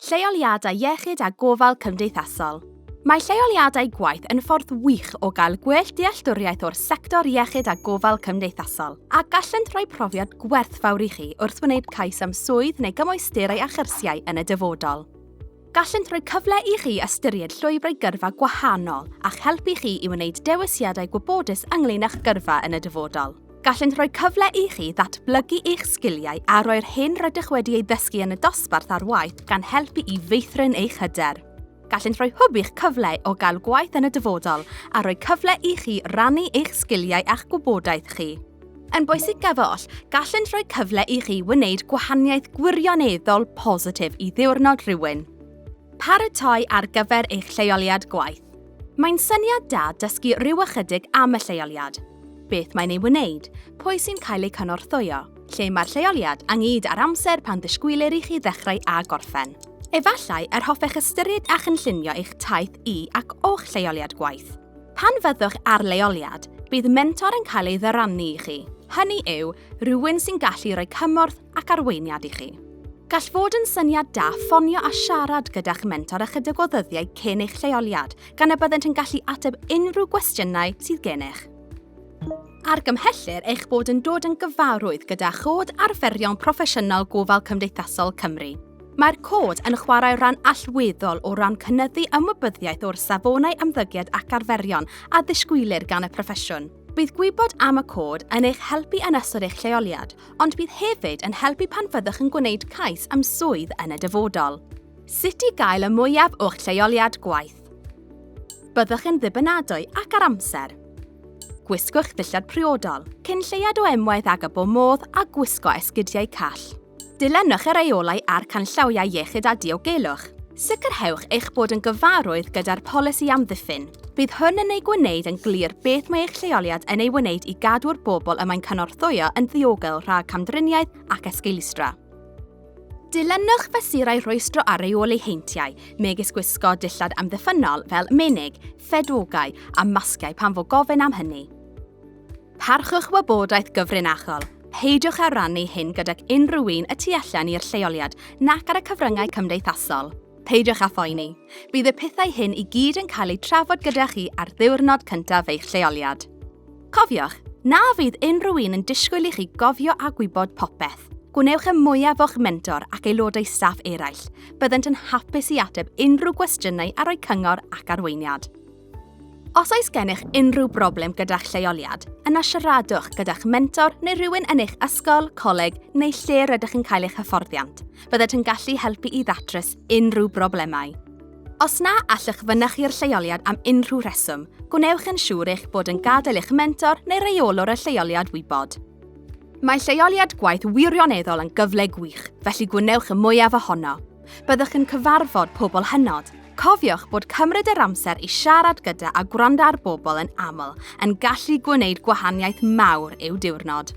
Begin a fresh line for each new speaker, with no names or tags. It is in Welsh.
Lleoliadau iechyd a gofal cymdeithasol. Mae lleoliadau gwaith yn ffordd wych o gael gwell dealltwriaeth o'r sector iechyd a gofal cymdeithasol, a gallent rhoi profiad gwerthfawr i chi wrth wneud cais am swydd neu gymwysterau a chyrsiau yn y dyfodol. Gallent rhoi cyfle i chi ystyried llwybrau gyrfa gwahanol a'ch helpu chi i wneud dewisiadau gwybodus ynglŷn â'ch gyrfa yn y dyfodol. Gallent roi cyfle i chi ddatblygu eich sgiliau a roi'r hyn rydych wedi ei ddysgu yn y dosbarth ar waith gan helpu i feithrin eich hyder. Gallent roi hwb i'ch cyfle o gael gwaith yn y dyfodol a rhoi cyfle i chi rannu eich sgiliau a'ch gwybodaeth chi. Yn bwysicaf oll, gallent rhoi cyfle i chi wneud gwahaniaeth gwirioneddol positif i ddiwrnod rhywun. Paratoi ar gyfer eich lleoliad gwaith. Mae'n syniad da dysgu rhyw ychydig am y lleoliad, beth mae'n ei wneud, pwy sy'n cael eu cynorthwyo, lle mae'r lleoliad, anghyd a'r amser pan ddisgwylir i chi ddechrau a gorffen. Efallai yr hoffech ystyried a chynllunio eich taith i ac o'ch lleoliad gwaith. Pan fyddwch ar leoliad, bydd mentor yn cael ei ddyrannu i chi, hynny yw, rhywun sy'n gallu rhoi cymorth ac arweiniad i chi. Gall fod yn syniad da ffonio a siarad gyda'ch mentor ychydig o ddyddiau cyn eich lleoliad, gan y byddent yn gallu ateb unrhyw gwestiynau sydd gennych. Argymhellir eich bod yn dod yn gyfarwydd gyda Chod Arferion Proffesiynol Gofal Cymdeithasol Cymru. Mae'r cod yn chwarae rhan allweddol o ran cynyddu ymwybyddiaeth o'r safonau ymddygiad ac arferion a ddisgwylir gan y proffesiwn. Bydd gwybod am y cod yn eich helpu yn ystod eich lleoliad, ond bydd hefyd yn helpu pan fyddwch yn gwneud cais am swydd yn y dyfodol. Sut i gael y mwyaf o'ch lleoliad gwaith. Byddwch yn ddibynadwy ac ar amser. Gwisgwch ddillad priodol, cyn lleiad o emwaith ag y bo modd a gwisgo esgidiau call. Dilynwch y rheolau a'r canllawiau iechyd a diogelwch. Sicrhewch eich bod yn gyfarwydd gyda'r polisi amddiffyn. Bydd hwn yn ei gwneud yn glir beth mae eich lleoliad yn ei wneud i gadw'r bobl y mae'n cynorthwyo yn ddiogel rhag camdriniaeth ac esgeulstra. Dilynwch fesurau rhwystro a reoli heintiau, megis gwisgo dillad amddiffynnol fel menig, ffedogau a masgiau pan fo gofyn am hynny. Parchwch wybodaeth gyfrinachol. Peidiwch â rannu hyn gydag unrhyw un y tu allan i'r lleoliad nac ar y cyfryngau cymdeithasol. Peidiwch â phoeni. Bydd y pethau hyn i gyd yn cael eu trafod gyda chi ar ddiwrnod cyntaf eich lleoliad. Cofiwch, na fydd unrhyw un yn disgwyl i chi gofio a gwybod popeth. Gwnewch y mwyaf o'ch mentor ac aelodau staff eraill. Byddant yn hapus i ateb unrhyw gwestiynau a rhoi cyngor ac arweiniad. Os oes gennych unrhyw broblem gyda'ch lleoliad, yna siaradwch gyda'ch mentor neu rhywun yn eich ysgol, coleg neu lle rydych yn cael eich hyfforddiant. Bydded yn gallu helpu i ddatrys unrhyw broblemau. Os na allwch fynychu'r lleoliad am unrhyw rheswm, gwnewch yn siŵr eich bod yn gadael eich mentor neu reolwr y lleoliad wybod. Mae lleoliad gwaith wirioneddol yn gyfle gwych, felly gwnewch y mwyaf ohono! Byddwch yn cyfarfod pobl hynod. Cofiwch bod cymryd yr amser i siarad gyda a gwrando ar bobl yn aml yn gallu gwneud gwahaniaeth mawr i'w diwrnod.